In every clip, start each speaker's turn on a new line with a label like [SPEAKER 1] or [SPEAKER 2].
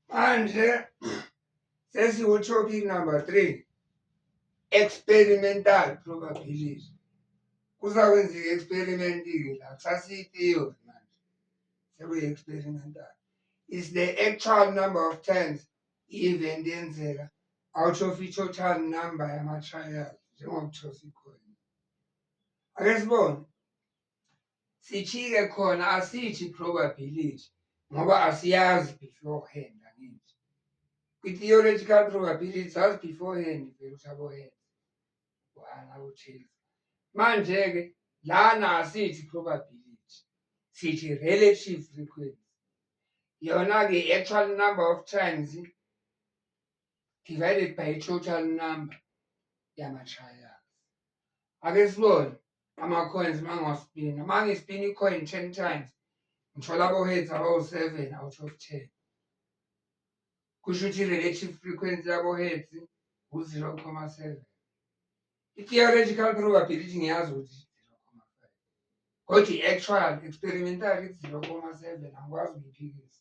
[SPEAKER 1] manje sesiwutopic number three experimental probability kuzakwenzeka i-experiment-ke la kusasiyi-theory manje sekuyi-experimental is the actual number of times i-event yenzeka out of i-total number yama-trial njengokuthosikhona ake sibone sijike khona asithi probability ngoba asiyazi beforehand angithi kwi-theoretical probability sazi beforehand vele ukuthi abohand one awuthile manje-ke lana asithi probability sithi relative frequency yona-ke i-actual number of times divided by total number yama-trials ake sibone ama-coins mangiwaspina uma ngispina i-coin ten times ngithola abo-heads abawu-seven out of ten kusho ukuthi i-relative frequency yabo-heads ngu-zero comma seven i-theoretical probability ngiyazi ukuthi kodwa i-actual experimental ithi-zero comma seven angikwazi ukuyiphikisa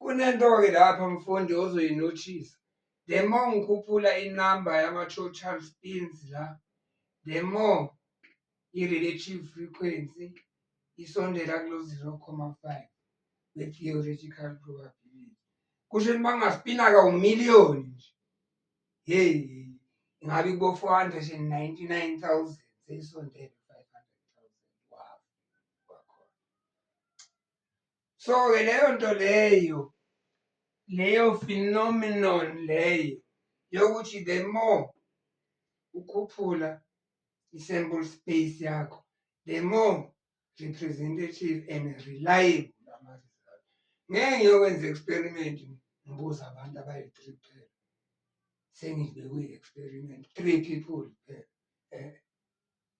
[SPEAKER 1] Kunento-ke lapha mfundi ozoyinothisa the more ngikhuphula inamba yama-total spins la the more i-relative frequency isondela kulo 0,5 we-theoretical probability kusho ukuthi uma kungaspina ka umiliyoni nje hey ingabe kubo 499000 seyisondele so ke leyo nto leyo leyo phenomenon leyo yokuthi the more ukhuphula i-sample space yakho the more representative and reliable ama-result ngeke ngiyokwenza experiment ngibuza abantu abayi-three kuphela sengibekwi-experiment three people kuphela um